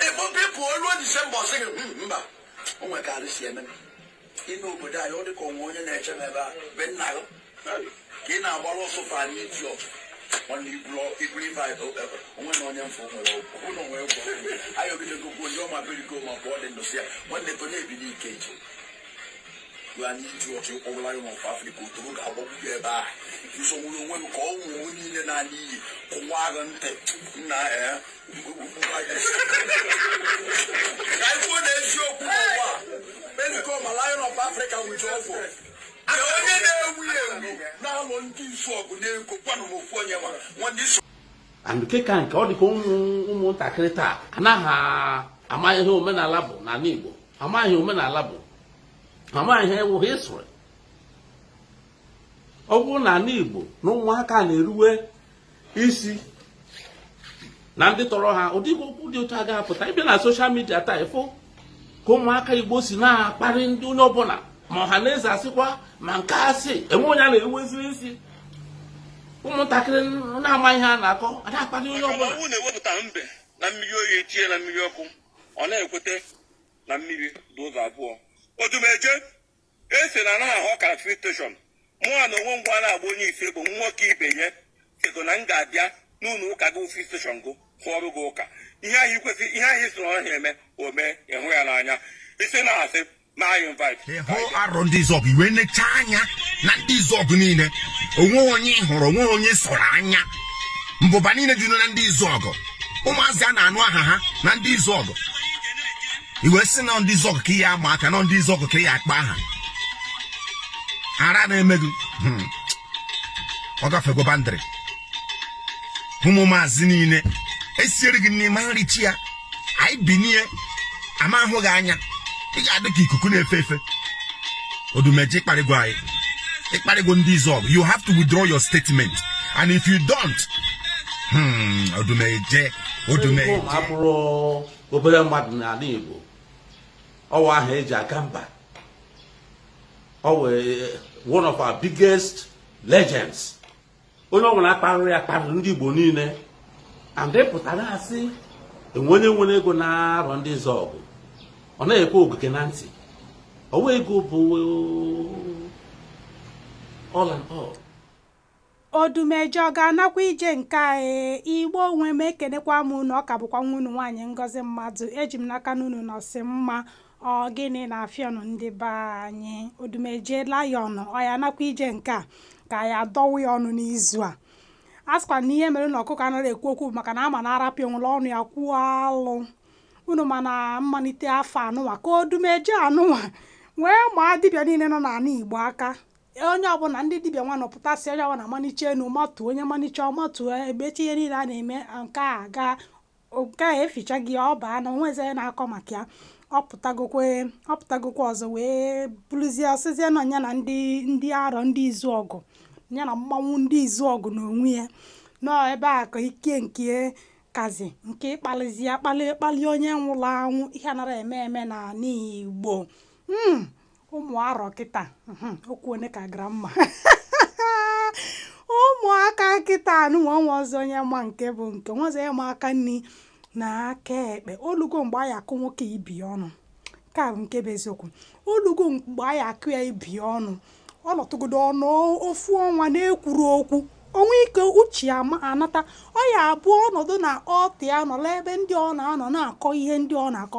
ịkpọpụ ịpụ oluo disemba ọ sị gị "Hmm, mba o nwere ka arụ si eme m. ime obodo anyị ọ dị ka o nwe onye na-eche m ebe a be nna gị ka ị na-agbara ọsọ fa anyị iti ọkụ nwanne iburu iburu ife anyị o- e- onwe na onye mfụ nwere ọgwụ ọ bụrụ na onwe gwọ anyị ogidego kwuo ndị ọma birigo ma pụọ dị ndụsị ya nwanne tonye ebi n'ike eji gwa anyị iti ọkụ ịkpọbụla ya n'ọfọ afrịka otoro ga-agbagbu ya ebe a nsogbu onwe m ka ọ nwụ onwe niile na-ala iyi kụwa agha ntị nna ee and nke ka nke ọ dịka ụmụntakịrị taa anaghị ama ihe omenala bụ n'ala Igbo amaghị ihe omenala bụ amaghị ihe wụ history ọ bụrụ na ala Igbo na ụmụaka na-eruwe isi na ndị tọrọ ha ụdị okwu dị otu a agaghị apụta ị bịa na soshal midia taa ị fụ ka ụmụaka igbo si na-akparị ndị onye ọbụla ma ọha na eze asịkwa ma nke asị enwe onye a na-eweziri isi ụmụntakịrị na-ama ihe a na-akọ a na-akparị onye ọbụla ọ wụ na e wepụta mbe na mmiri oyi etinye na mmiri ọkụ ọ na-ekweta na mmiri dị ụzọ abụọ odumeje e si na anaghị ahụ ka free station mụa na onwe ngwa na-agba onye isi bụ nwoke ibe ya sịgo na m ga-abịa n'ụlọ ụka gị free station gụ hụọrụ gị ụka ihe ahụ ikwesị ihe ahụ isoro ọhịa eme o mee ị hụ ya n'anya isi na-asị na anyị invite hụ Arọndizuọgụ i wee necha anya na ndị Izuọgụ niile o nwe onye ị hụrụ o nwe onye sọrọ anya mbụba niile dị na ndị Izuọgụ ụmụ maazị a na-anụ aha ha na ndị Izuọgụ i wee sị na ndị Izuọgụ ka ị ya-ama aka na ndị Izuọgụ ka ị ya-akpa aha ara na-eme gị hmm. ọ gafego boundary ụmụ maazị niile esiere gị nni ị ma-ericha ya anyị binie a ma-ahụ gị anya ị ga-adị ka ikuku na-efe efe odumeje ị kparịgo anyị ị kparịgo ndị Izuọgụ you have to withdraw your statement and if you don't hmm, odumeje odumeje abụrọ obere mmadụ n'ala Igbo ọ wụ aha eji aga mba ọ wụ one of our biggest legends onye ọbụla kparịrị ya kparịrị ndị Igbo niile and ị pụtara asị enwe onye nwere ego n'Arọndizuọgụ ọ naghị ekwe ogige na ntị ọ wụ ego bụ all and all odumeje ọ ga-anakwa ije nke anyị Igbo nwe m ekenekwa m unu ọ ka bụkwa nwa unu nwaanyị ngozi mmadụ eji m n'aka na unu nọsị mma Ọ gịnị na-afịọnụ ndị be anyị? Odumeje Lion ọ ya nakwa ije nke a ka anyị adọwa ya ọnụ n'izu a. A sịkwa na ihe mere na ọkụkọ anaghị ekwu okwu bụ maka na a ma na a rapụ ya o were ọnụ ya kwuo alụ. Unu ma na mmalite afọ anụnwa ka Odumeje anụnwa wee maa dibịa niile nọ n'ala Igbo aka onye ọbụla ndị dibịa wee na-apụtasị onye ọbụla manicha enu matuo onye manicha ọ matuo emecha ihe niile a na-eme nke a gaa nke a eficha gị ọ baa na onwezi onye na-akọ maka ya ọ pụtagokwa ọ pụtagokwa ọzọ wee bụrụzie ọ sịzie na ya na ndị ndị Arọ ndị Izuọgụ ya na mmanwụ ndị Izuọgụ n'onwe ya nọọ ebe a ka ike nke kazi nke ịkpalịzi akpalị ịkpalị onye nwụrụ anwụ ihe a narọ eme eme n'ala Igbo mm ụmụ Arọ kịta mhm, okwu one ka gramma ụmụaka kịta anụnwa onwezi onye ma nke bụ nke onwezi onye ma aka nri na aka ekpe olugo mgbe anyị akụ nwoke ibi ọnụ nke a bụ nke bụ eziokwu olugo mgbe anyị akụ ya ibi ọnụ ọ nọtụgodo ọnụ ofu ọnwa na-ekwurọ okwu o nwe ike uche ya ma- anata ọ ya bụ ọ nọdụ na altar ya nọlụ ebe ndị ọ na-anọ na-akọ ihe ndị ọ na-akọ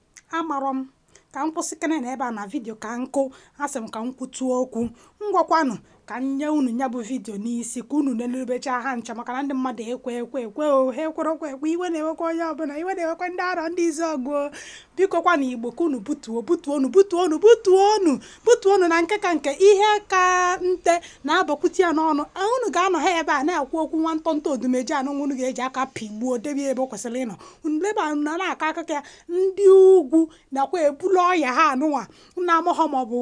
Amarọ m. Ka m kwụsịkene na ebe a na vidio ka m hụ, asị m ka m kwutụ okwu. Ngwakwanụ ka m nye unu ya bụ vidio n'isi ka unu nelerubechaa ha ncha maka na ndị mmadụ ekwe ekwe ekwe o, ha ekwerọkwa ekwe, iwe na-ewekwa onye ọbụla, iwe na-ewekwa ndị Arọ ndị Izuọgụ o. Biko kwa na Igbo ka unu butuo, butuonu, butuonu, butuonu, butuonu na nke ka nke ihe ka nte na-abakwute ya n'ọnụ. Unu ga-anọ ha ebe a na-ekwu okwu nwa ntọntọ Odumeje anụnwa unu ga-eji aka pịgbuo debe ya ebe o kwesịrị ịnọ. ndị be anyị na-akọ akụkọ ya ndị ugwu nakwa ebulu ọya ha anụnwa m na-amahọ ma ọ bụ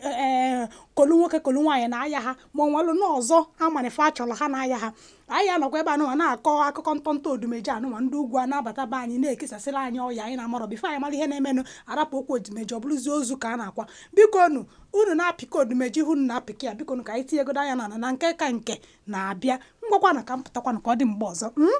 ee kolu nwoke kolu nwaanyị na-aya ha ma o nwelụ na ọzọ amanife a chọrọ ha na-aya ha anyị anọkwa ebe anụnwa na-akọ akụkọ ntọntọ Odumeje anụnwa ndị ugwu a na-abata be anyị na-ekesasịrị anyị ọya anyị na-amarọ before anyị mara ihe na-emenụ a rapụ okwu Odumeje ọ bụrụzie ozu ka a na-akwa biko nu unu na-apịka Odumeje ihu unu na-apịka ya biko nu ka anyị tinyegodo anya n'ala na nke ka nke na-abịa ngwakwanụ ka m pụtakwanụ ka ọ dị mgbe ọzọ mm?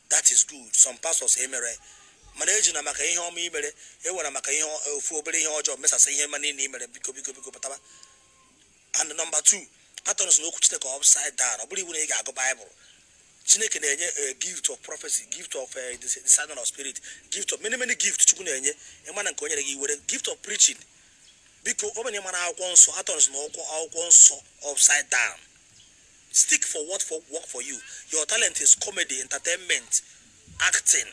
That is good. Some pastors emere mana ejina maka ihe ọma i mere were maka ofu obere ihe ọjọọ mesasa ihe ọma niile i mere biko biko biko pụtaba and number two a-turn-sina okwu chineke upside down ọ bụrọ iwu na ị ga-agụ baịbụl chineke na-enye eh, gift of prophecy gift of eh, discerning of spirit gift of many many gift chukwu na-enye ịma na nke o nyere gị were gift of preaching biko ọ bụrụ na ị marọ akwụkwọ nsọ a-turn-sina okwu akwụkwọ nsọ upside down Stick for what work for you. Your talent is comedy, entertainment, acting.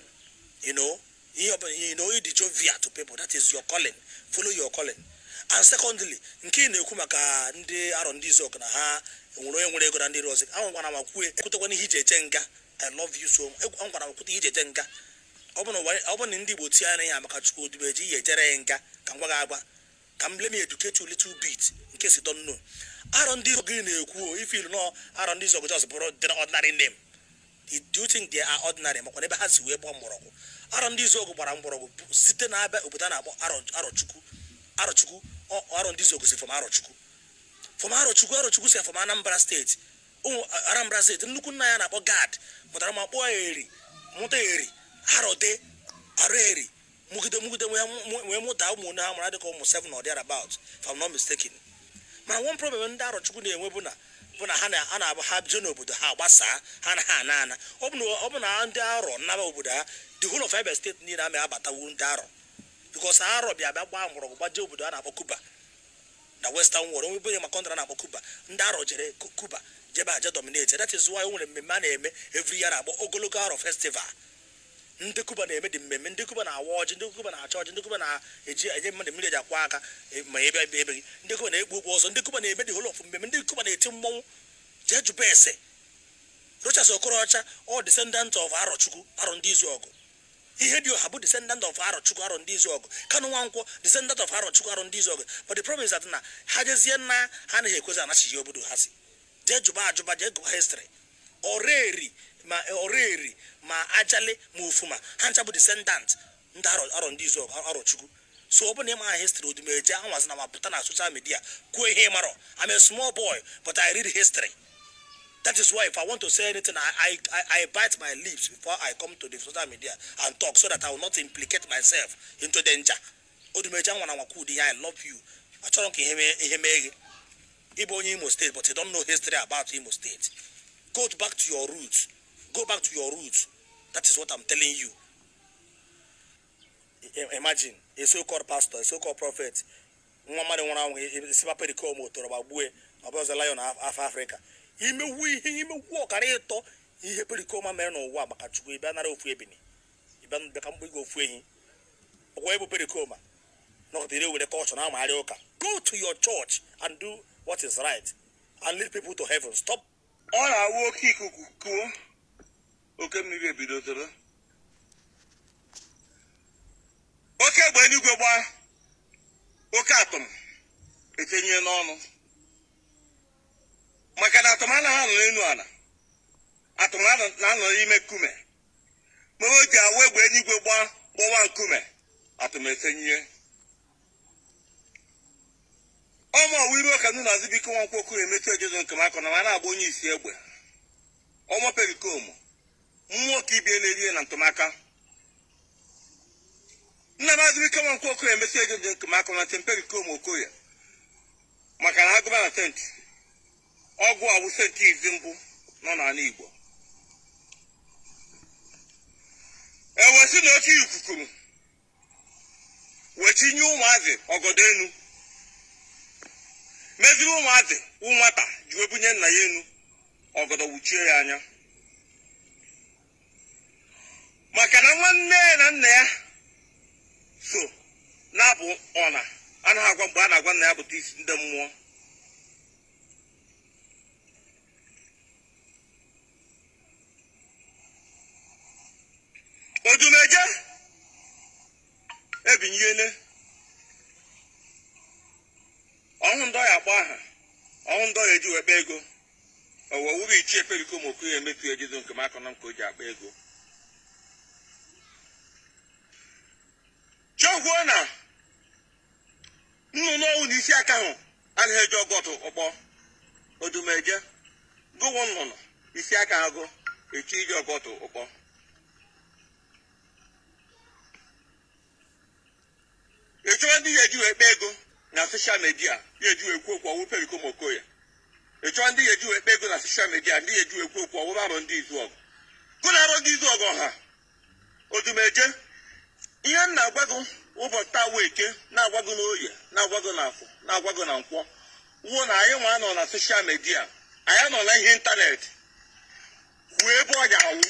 You know, you know, ị dị jovial to people. That is your calling. Follow your calling. And secondly, nke ị na-ekwu maka ndị arọ ndị izuọgụ na ha enwerọ onye nwere ego na ndị arọ anwakwana ma kwue ekwutekwana ihe ị ji eje nga I love you so anwakwana ma kwute ihe ị ji eje nga ọ bụ na ndị Igbo tie anya ya maka Chukwu Odumeje ị ya-ejere ya nga ka m gwa gị agwa ka m let me educate you little bit in case you don't know arọ ndị izuọgụ ị na-ekwu o ife i lo na arọ ndị izuọgụ just bụrụ the ordinary name do you think they are ordinary makwa n'ebe ha si wee gbaa mgbọrọgwụ arọ ndị izuọgụ gbara mgbọrọgwụ site na Abịa obodo a na-akpọ arọchukwu arọchukwu arọ ndị izuọgụ si from arọchukwu from arọchukwu arọchukwu si from Anambra steeti ụmụ Anambra steeti nnukwu nna a na-akpọ Gad mụtara nwa kpọọ eri mụta eri arọdi ọraeri mụgide mụgide wee mụta ụmụ onye ha mara dịka ụmụ seven or thereabout if I'm not mistaken ma one problem ndị arọchukwu na-enwe bụ na bụ na ha na-abụ ha bie n'obodo ha gbasaa ha anaha ana ana ọ bụ na ndị arọ naba obodo ha the whole of Abia steeti niile ama abatanwu ndị arọ because arọ bịa bịa gbaa mgbọrọgwụ gbaje obodo a na-akpọ Kuba na western world onye ọbụla ma country a na-akpọ Kuba ndị arọ jere Kuba je ebe a je dominate that is why o nwere mmemme a na-eme every year a na-akpọ ogologo arọ festival Ndị Kuba na-eme the mmemme, ndị Kuba na-awa ọjị, ndị Kuba na-eche ọjị, ndị Kuba na-eji enye mmadụ mmiri e ji akwọ aka e, ma ebe ebe ebe gị, ndị Kuba na-ekpu okpu ọzọ, ndị Kuba na-eme the whole of mmemme, ndị Kuba na-eti mmọnwụ. Jee jụba ese. Rochas Okorocha ọ descendant of Arọchukwu, Arọ ndị Izuọgụ. Ihedioha bụ descendant of Arọchukwu, Arọ ndị Izuọgụ. Kanu Nwankwọ descendant of Arọchukwu, Arọ ndị Izuọgụ. But the problem is that na ha jezie na ha anaghị ekwezi anachigha obodo ha si. jee jụba ajụba jee gụba history ọraeri ma ọraeri ma ajali ma ufuma ha ncha bụ descendant ndị arọ arọ ndị izuọgụ arọchukwu so ọ bụ na ị maghị history odumeje anwazina ma pụta na social media kwuo ihe ị marọ I'm a small boy but I read history that is why if I want to say anything I, I, I, I bite my lips before I come to the social media and talk so that I will not implicate myself into danger Odumeje anwana anwa kwuo ụdị ihe a I love you achọrọ m ka ihe mee ihe mee gị ị bụ onye Imo steeti but you don't know history about Imo steeti go back to your roots go back to your roots that is what I'm telling you I- imagine a so-called pastor a so-called prophet nwa mmadụ nwụrụ anwụ sịba perikoma tọrọ m agbụ ọ bụzi lion of Africa i menwu ihe i menwu ọkara ịtọ ihe perikoma mere n'ụwa maka chukwu ị bịa nara ofu ebini ị bịa n'ụbịa ka m gbuere gị ofu ehi ọ bụ ebe perikoma nọkọta ire were culture na-amagharị ụka go to your church and do what is right and lead people to heaven stop ị na-awụ oke ikuku kuo oke mmiri ebido toro oke egbe eluigwe gbaa oke atụm etenye n'ọnụ maka na atụm anaghị anọ n'elu ala atụm anọ- na-anọ n'ime nkume mere o ji awa egbe eluigwe gbaa gbọwa nkume atụm esenyie ọma ọwa iru ọka nnu na azụbike nwa nkwokwu emechi ojezo nke m akọ na ma na-agba onye isi egbe ọma perikomu mmụọ ka ibie na-erie na ntụmaka nna m azụbike nwa nkwokwu emechi ojezo nke m akọ na ntị perikomu okoye maka na a gụba na senti ọ gụwa bụ senti izi mbụ nọ n'ala Igbo ewesị na oke ikuku kuru wee tinye ụmụazị ọgọdọ enu meziri ụmụazị wụ nwata ji wee bunye nna ya enu ọgọdọ wụchie ya anya maka na nwanne ya na nna ya so na-abụ ọ na anaghị agwa mgbe a na-agwa nna ya bụta isi ndị mmụọ odumeje ebinyele ọ wụ ndị ya akpọ aha ọ wụ ndị ya eji wee kpa ego Ọ wụrụ ichie perikom okoye emetu ejido nke m akọnọ m ka o ji akpa ego chefuo na nnụnụ ọ wụna isi akahụ anaghị eje ọgụ ọtụrụkpọ odumeje gụ wụ nnụnụ isi akaghị chọ ije ọgụ ọtụrụkpọ ị chọwa ndị ya eji wee kpa ego na soshal midia ya eji wee kwuo okwu ọ wụ Pericom Okoye ị chọwa ndị ya eji wee kpa ego na soshal midia ndị ya eji wee kwuo okwu ọ wụrụ Arọndizuọgụ gụ na Arọndizuọgụ ọ ha odumeje ihe m na-agwa gị ụbọchị taa wụ eke na-agwa gị n'oye na-agwa gị n'afọ na-agwa gị na nkwọ wụ na anyị nwa nọ na soshal midia anyị nọ na ihe ịntanetị ruo ebe ọ ga-anwụ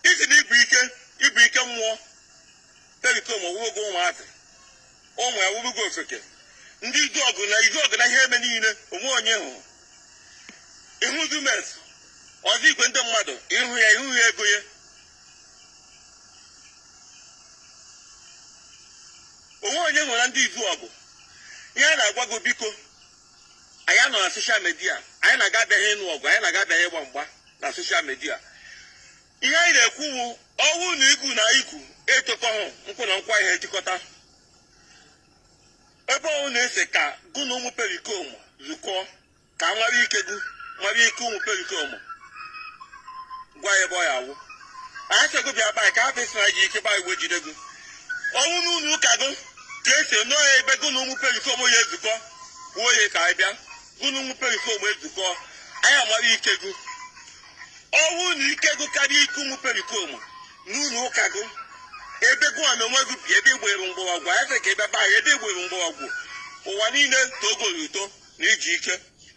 iji na igwe ike igwe ike mmụọ perikom ọ wụrụgo ụmụazị ụmụ ya wụrụgo ofeke ndị izuọgụ na izuọgụ na ihe eme niile o nwe onye hụrụ ihu dumes ọzọ igwe ndị mmadụ ịhụ ya ịhụ ya ego ya o nwe onye nwere ndị izuọgụ ihe a na-agwa gị biko anyị nọ na soshal midia anyị nọ nga abịaghị ịnụ ọgụ anyị nọ nga abịaghị ịgba mgba na soshal midia ihe anyị na-ekwu bụ ọ wụ na igu na igu etokọhụ nkwụ na nkwụ ihe jikọta ebe ụnụ na-ese ka gụ na ụmụ perikom zukọọ ka nwara ike gụ nwara ike ụmụ perikom gwa ya ebe ọ ya awụ anyị sị gị bịa be anyị ka afọ esi na gị ike gbaa igwe jide gị ọ wụ n'ụlọ ụka gị ka esi nọ ya ebe gị na ụmụ pericoma ya ezukọ kwuo ya ka anyị bịa gị na ụmụ pericoma ezukọ anyị amara ike gị ọ wụ na ike gị karịa ike ụmụ pericoma n'ụlọ ụka gị ebe gị na onwe gị bi ebe ị gbara mgbọrọgwụ anyị sị ka ị bịa be anyị ebe ị gbara mgbọrọgwụ ụwa niile togo ya uto na i ji ike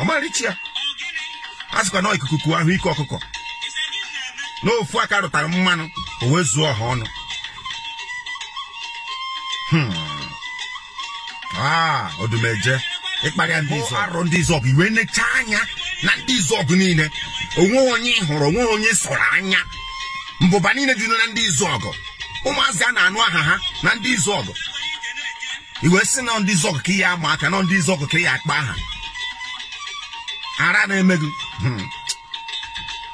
ọ ma-ericha ya a sịkwa na ikuku kuo a hụ ike ọkụkọ n'ofu aka rụtara mmanụ o wee zuo ọha ọnụ Hmm. Ah, odumeje ị kparịa ndị izọ arọ ndị izuọgụ i wee necha anya na ndị izuọgụ niile o nwe onye ị hụrụ o nwe onye ị sọrọ anya mbụba niile dị na ndị izuọgụ ụmụ maazị a na-anụ aha ha na ndị izuọgụ i wee sị na ndị izuọgụ ka ị ya-ama aka na ndị izuọgụ ka ị ya-akpa aha ara na-eme gị Hmm.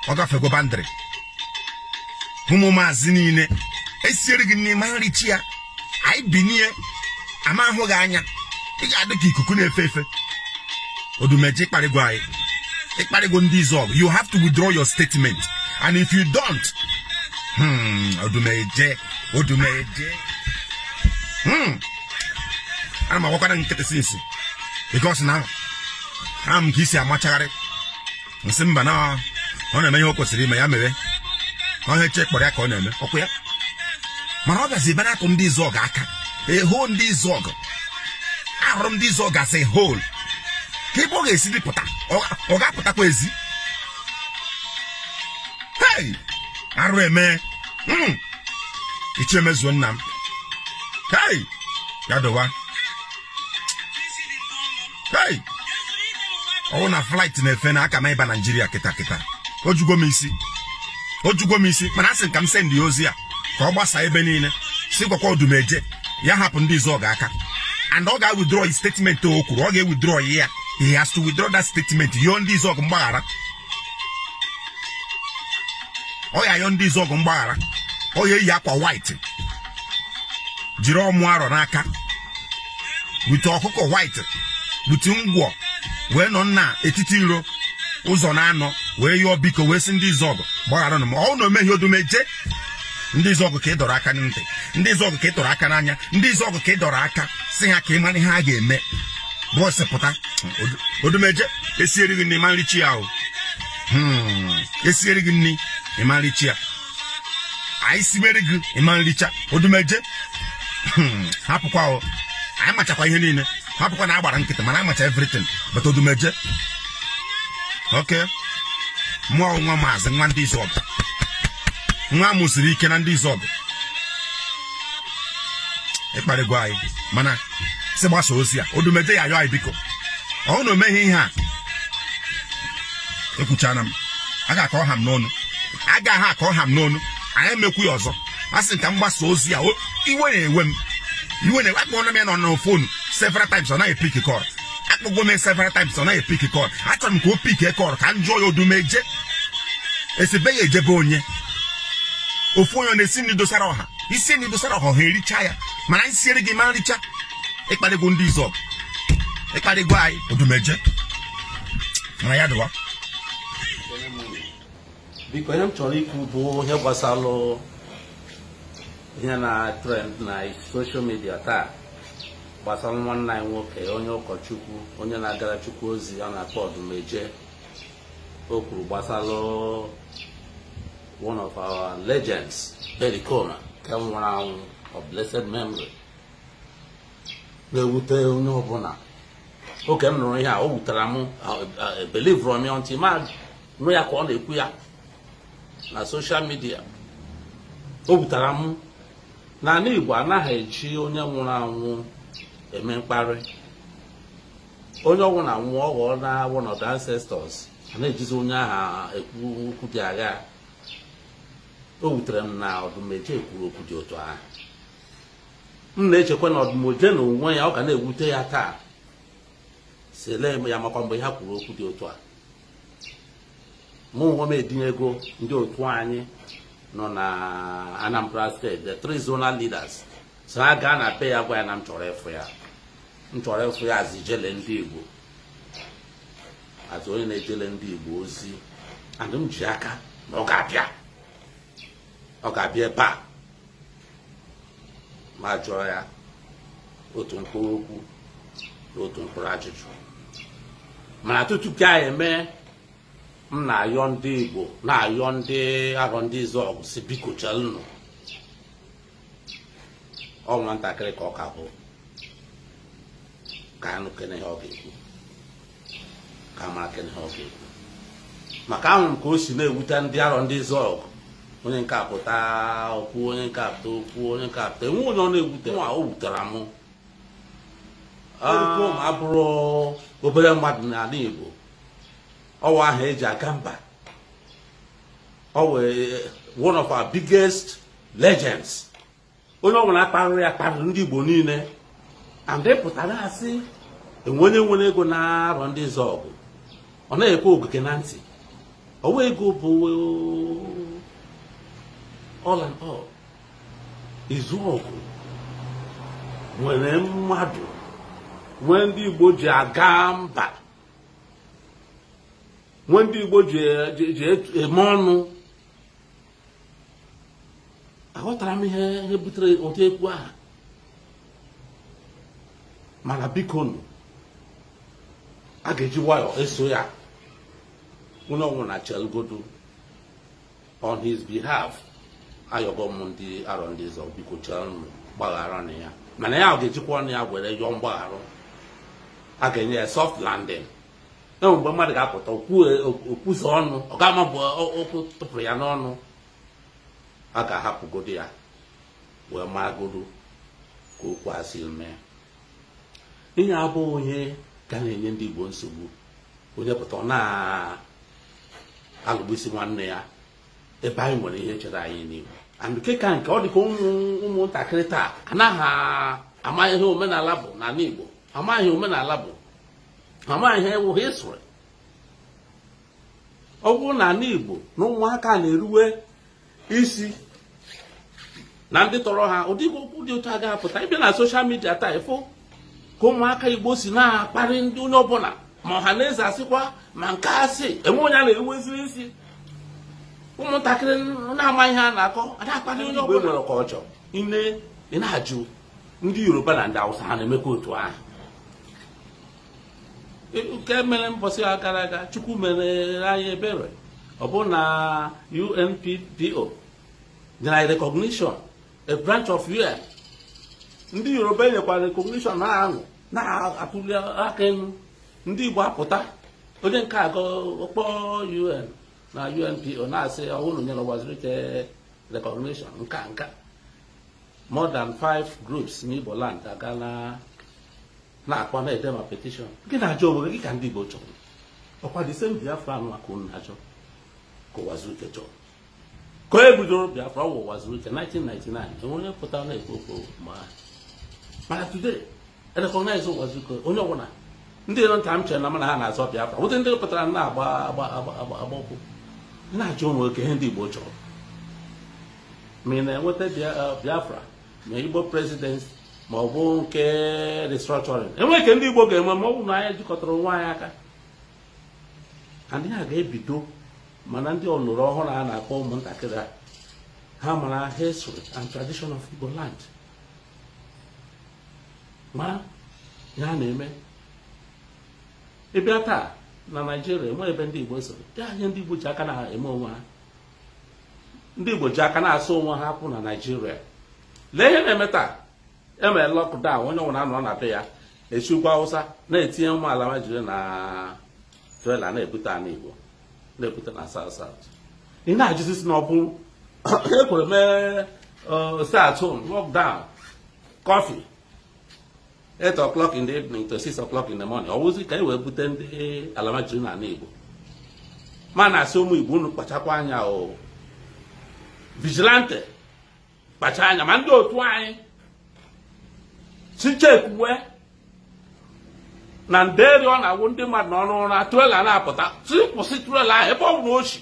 ọ gafego boundary ụmụ maazị niile esiere gị ị ma-ericha ya anyị binie a ma-ahụ gị anya ị ga-adị ka ikuku na-efe efe odumeje ị kparịgo anyị ị kparịgo ndị izuọgụ you have to withdraw your statement and if you don't hmm, odumeje odumeje Hmm. ana m agbakwara nkịtị since because na ahụ m ka i si amachagharị m sị mba na ọ na-eme ihe o kwesịrị ime ya mewe ihe chi kpọrọ ya ka ọ na-eme ọkwa ya mana ọ gazi ebe na-atụ ndị izuọgụ aka eho ndị izuọgụ ahụrụ ndị izuọgụ asị hol ka ebe ọ ga-esi dịpụta ọ ga-apụtakwa ezi hei arụ emee hmm. ichie mezuo nna m hei ya dịwa hei ọ wụ na flight na-efe na aka m ịba nigeria kịta kịta ojugo m isi ojugo m isi mana asị ka m send ya ozi a ka ọ gbasaa ebe niile si gwakwa odumeje ya hapụ ndị izuọgụ aka and ọ ga-withdraw his statement o kwuru ọ ga-ewithdraw ya he has to withdraw that statement yọọ ndị izuọgụ mgbaghara ọ ya-ayọ ndị izuọgụ mgbaghara ọ ya-eyi akwa white jiri ọmụ arọ n'aka bute ọkụkọ white bute ngwọ wee nọ na etiti iro ụzọ naanọ wee yọọ biko wee sị ndị izuọgụ gbagharanụ m ọ wụ na o mehie odumeje ndị izuọgụ ka ị dọrọ aka na ntị ndị izuọgụ ka ị tụrụ aka n'anya ndị izuọgụ ka ị dọrọ aka sị ha ka ị mara ihe a ga-eme bọọsụ pụta Odu- odumeje esieri gị nri ị ma-ericha ya o Hmm, esieri gị nri ị ma-ericha ya anyị sibere gị ị ma-ericha odumeje Hmm, hapụkwa o anyị machakwa ihe niile hapụkwa na a gbara nkịtị mana amacha everything but odumeje oke mụọ nwa maazị nwa ndị Izuọgụ nwa mụ siri ike na ndị Izuọgụ ị kparịgo anyị mana sị gbasa ozi a odumeje ya yọọ anyị biko ọ na o meghị ihe a ekwuchana m agha ka ọ ha m n'ọnụ agha ka ọ ha m n'ọnụ anyị emekwu ya ọzọ a sị ka m gbasa ozi a iwe na-ewe m iwe na-ewe akpọọla m ya na phone several times ọ naghị pick call akpọgwo m several times ọ naghị pick call achọrọ m ka o pick call ka m jụọ ya odumeje esibe ya ejebe onye ofu onye ọ na-esi nri dosara ọha i sie nri dosara ọha ha ericha ya mana anyị siere gị ị ma-ericha ị kparịgo ndị Izuọgụ ị kparịgo anyị odumeje mana ya dịwa biko ihe m chọrọ ikwu bụ ihe gbasalụ ihe na-trend na social media taa gbasalụ nwanne anyị nwoke onye ụkọchukwu onye na-agara chukwu ozi a na-akpọ odumeje o kwuru gbasalụ one of our legends Pericoma nke nwụrụ anwụ of blessed memory na-ewute onye ọbụla oge m nụrụ ihe a o wutara m ebelieverọ m ya until m nụ ya ka ọ na-ekwu ya na social media o wutara m N'anị Igbo anaghị eji onye nwụrụ anwụ eme mkparị onye nwụrụ anwụ ọ ghọọna one of the ancestors a na-ejizi onye aha ekwu okwu dị agha o wutere m na odumeje kwuru okwu dị otu ahụ m na-echekwa na odumeje na onwe ya ọ ga na-ewute ya taa sele ya makwa mgbe ha kwuru okwu dị otu a mụ onwe m etinyego ndị otu anyị nọ na Anambra State the three zonal leaders sị ha gaa na be ya gwa ya na m chọrọ ịfụ ya m chọrọ ịfụ ya as ijele ndị Igbo as onye na-ejele ndị Igbo ozi and m ji aka na ọ ga-abịa ọ ga-abịa ebe a ma jụọ ya otu mkpụrụ okwu otu mkpụrụ ajụjụ mana tutu ka anyị eme m na-ayọ ndị Igbo na-ayọ ndị Arọ ndị Izuọgụ sị biko chelụnụ ọ nwatakịrị ka ọ ka bụ ka a nụkene ihe ọ ga-ekwu ka a marakene ihe ọ ga-ekwu maka ahụrụ m ka o si na-ewute ndị Arọ ndị Izuọgụ onye nke a pụta o kwuo onye nke a pụta o kwuo onye nke a pụta enwe onye ọ na-ewute nwa o wutara m Pericoma abụrọ obere mmadụ n'anị Igbo ọ wụ aha e ji aga mba ọ wụ one of our biggest legends onye ọbụla akparịrị ya kparịrị ndị Igbo niile and ị pụtara sị enwe onye nwere ego na Arọndizuọgụ ọ na-ekwe ogige na ntị ọwa ego bụ all and all Izuọgụ nwere mmadụ nwee ndị Igbo ji aga mba nwee ndị Igbo ji eme ọnụ aghọtara m ihe ihe butere ụdị okwu ahụ mana bikonụ a ga-eji nwayọọ eso ya onye ọbụla chelugodo on his behalf ayọgo m ndị Arọndizuọgụ biko chelunụ gbagharanụ ya mana ya ọ ga-ejikwa ọnụ ya were yọọ mgbaghara a ga-enye ya soft landing na mgbe mmadụ ga-apụta o kwuzo ọnụ ọ ga-ama bụ okwu tụpụrụ ya n'ọnụ a ga-ahapụgodo ya wee maragodo ka okwu a si mee ihe a bụ ihe ka na-enye ndị Igbo nsogbu onye pụta ọ na-alụgbusi nwanne ya ebe anyị nwere ihe chere anyị n'ihu and nke ka nke ọ dịka ụmụntakịrị taa anaghị ama ihe omenala bụ n'ala Igbo amaghị ihe omenala bụ amaghị ihe wụ history ọ bụrụ na ala Igbo na ụmụaka na-eruwe isi na ndị tọrọ ha ụdị okwu dị otu a ga-apụta ị bịa na social media taa ị fụ ka ụmụaka Igbo si na-akparị ndị onye ọbụla ma ọha na eze asịkwa ma nke asị enwe onye a na-eruwezi isi ụmụntakịrị na-amaghị ihe a na-akọ ada akparị onye ọbụla nwere ka ọ chọọ ị na-ajụ ndị yoruba na ndị awụsa ha na-emekwa otu ahụ e, nke mere mbọsị a gara aga chukwu mere anyị ebere ọ bụ na UNPO nyere anyị recognition a branch of UN ndị yoruba nyekwara recognition ha ahụ na-atụli aka elu ndị igbo apụta onye nke a kpọọ UN na UNPO na-asị ọ wụ unu nyere Ụwazuruike recognition nka nka more than five groups n'Igbo land ga na-akpọ na-edema petition gị na-ajụ onwe gị ka ndị Igbo chọrọ ọkwa the same Biafra ahụ ka unu na-achọ ka Ụwazuruike chọrọ ka onye bidoro Biafra ọwa Ụwazuruike 1999 enwe onye pụtara na-ekwu okwu ma mana today recognize Ụwazuruike onye ọbụla ndị nọ nta m chere na mana ha na-azọ Biafra wụ ndị pụtara na-agba agba agba agba agba ụkwụ na-ajụ onwe gị ihe ndị Igbo chọrọ ma ị na-enweta uh, biafra ma igbo presidency ma ọ bụ nke restructuring enwe nke ndị igbo ga-enwe ma ọ bụ na anyị jikọtara onwe anyị aka and a ga-ebido mana ndị a mụrụ ọhụrụ a na-akpọ ụmụntakịrị a ha mara history and tradition of igbo land ma ihe na-eme ị bịa taa na naijiria enwe ebe ndị igbo soro ya ihe ndị igbo ji aka na-eme onwe ha ndị Igbo ji aka na-asụ onwe ha akwụ na Naịjirịa lee ihe na-eme taa e mere lockdown onye ọbụla anọ na be ya e si ugwu Awụsa na-etinye ụmụ alamajiri na trela na-ebute ala Igbo na-ebute na South South ị na-ajụzi sị na ọ bụ e kwuru mee stay at home lockdown curfew 8 o'clock in the evening to 6 o'clock in the morning ọwụzi ka e wee bute ndị alamajiri na ala igbo m na-asị ụmụ igbo unu kpachakwa anya o vigilante kpachaa anya ma ndị otu anyị sị chekwuwe na nderi ọ na-awụ ndị mmadụ nọ n'ụra trela na-apụta sị kwụsị trela ahụ ebe ọ bụla o si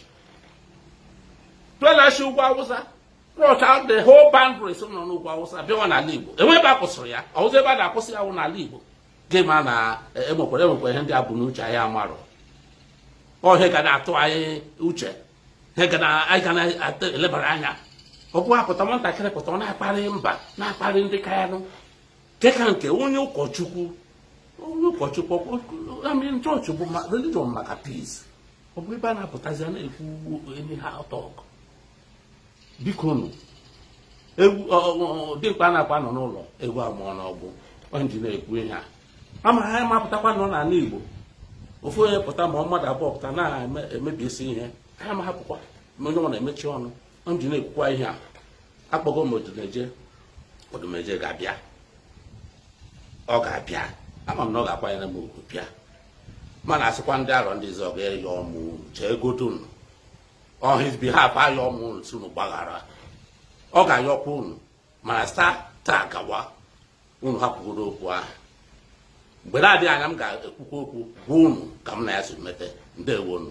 trela si ugwu awụsa brought out the whole boundaries nọ n'ugwu awụsa bịawa n'ala igbo enwe ebe a kwụsịrị ya ọwụzi ebe a na-akwụsị ya wụ n'ala igbo gị ma na enwekwara enwekwa ihe ndị a bu n'uche anyị amarụ ọ ihe ga na-atụ anyị uche ihe ga na- anyị ga na-elebara anya ọ bụ a pụta nwatakịrị pụta ọ na-akparị mba na-akparị ndị ka ya nụ dịka nke onye ụkọchukwu onye ụkọchukwu ọkwa- I mean, chọọchị bụ ma- religion maka peace ọ bụ ebe a na-apụtazi a na-ekwu enyi ha ọtọ ọgụ biko nụ eh dimkpa anakwa anọ n'ụlọ ewu amụọ n'ọgbụ ọ m ji na-ekwu ihe a ama ha mapụtakwa nọ n'ala Igbo ofu onye pụta ma mmadụ abụọ pụta na-emebisi ihe ha ma hapụkwa ma onye ọbụla emechie ọnụ ọ m ji na-ekwukwa ihe a akpọgo m odumeje odumeje ga-abịa ọ ga-abịa ama m na ọ ga-akwanyere m ugwu bịa mana asịkwa ndị Arọndizuọgụ ayọ m unu cheegodonụ on his behalf ayọ m unu sị unu gbaghara ọ ga-ayọkwa unu mana site taa gawa unu hapụgodo okwu ahụ mgbe na-adịghị anya m ga-ekwukwa okwu gwa unu ka m na ya si mete ndewonu